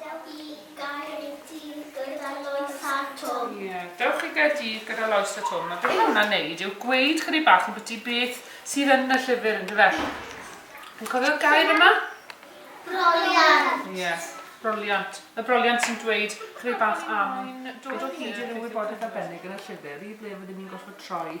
Dewch i Gaerdydd gyda Lois a Twm. Ie, dewch i Gaerdydd gyda Lois a Twm. A be mae hwnna'n neud yw gweud chydig bach am byti beth sydd yn y llyfr yn dyfe? Yn cofio'r gair yma? Broliant. Ie, yeah, broliant. Y broliant sy'n dweud chydig bach am... Mae'n dod o hyd i ryw wybodaeth arbennig yn y llyfr i ble fydden ni'n gorfod troi.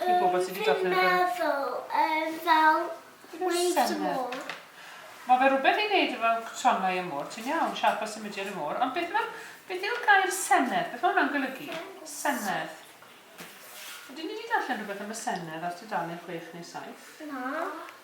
i bobl sy 'di darllen y gyfrol. Dwi'n meddwl yn fel Waves of More. Mae fe rhywbeth i wneud efo tonnau y môr, ti'n iawn, siapau symudiad y môr, ond beth mae'r... beth yw'r gair senedd? Beth mae hwnna'n golygu? Senedd. Ydyn ni 'di darllen rhywbeth am y senedd ar tudalen chwech neu saith? Na.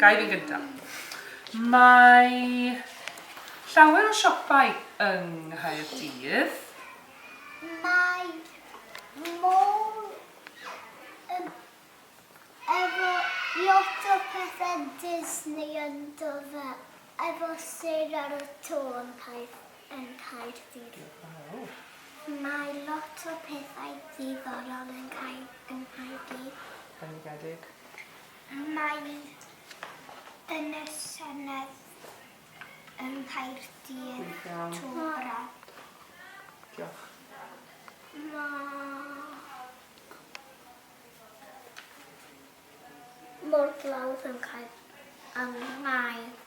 Ga i fynd gynta? Mae llawer o siopau yng Nghaerdydd. Mae mall efo lot o pethe Disney ynddo fe, efo sêr ar y to yn Nghaerdydd. Mae lot o pethau diddorol yn Nghaerdydd. Bendigedig. Mae yn y Senedd yng Nghaerdydd tro braf. Diolch. Mae morglawdd yn cael angau.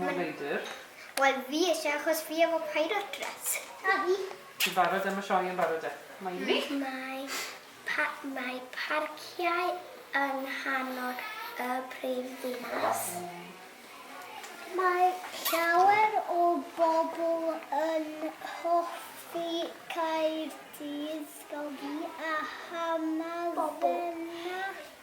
Mor leidr. Wel fi isie achos fi efo pirate dress. A fi. Ti'n barod am y sioe yn barod de? Mae un ni. Mae pa- mae parciau yng nghanol y prif ddinas. Mae llawer o bobl yn hoffi Caerdydd fel fi a Hamddenau.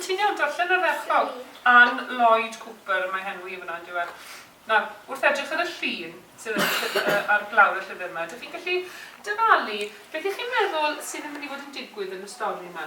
Ti'n iawn, darllen yr erthygl. Anne Lloyd Cooper, mae henw hi fan'na yndyw e. Nawr, wrth edrych ar y llun sydd ar y lly- yy ar glawr y llyfr 'ma, dych chi'n gallu dyfalu beth y'ch chi'n meddwl sydd yn mynd i fod yn digwydd yn y stori 'ma?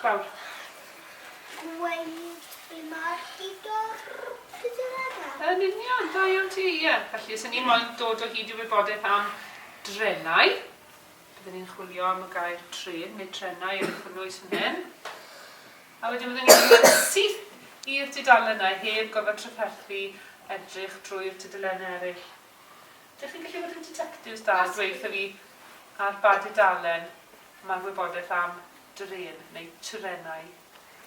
Gwawr. Gweud be mae'r diddordeb. Yn union, da iawn ti, ie. Felly, os 'y ni moyn dod o hyd i wybodaeth am drenau, bydden ni'n chwilio am y gair trên neu trenau yn cynnwys fan hyn. A wedyn bydden ni'n mynd syth i'r dudalennau heb gorfod trafferthu edrych drwy'r tudalennau eraill. Dych chi'n gallu bod yn detectives da a dweutha fi ar ba dudalen Mae gwybodaeth am drên neu trenau.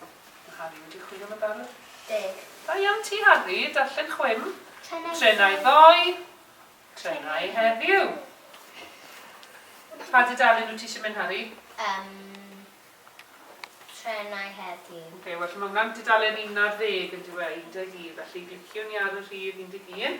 Mae Harri wedi chwilio am yn barod. Deg. Da iawn ti Harri, darllen chwim. Trenau ddoe. Trenau ddoe. Trenau heddiw. Pa dudalen wyt ti eisiau mynd Harri? Yym trenau heddiw. Ok, well mae hwnna'n dudalen un ar ddeg yn dyw e, un deg un, felly gliciwn ni ar y rhif un deg un.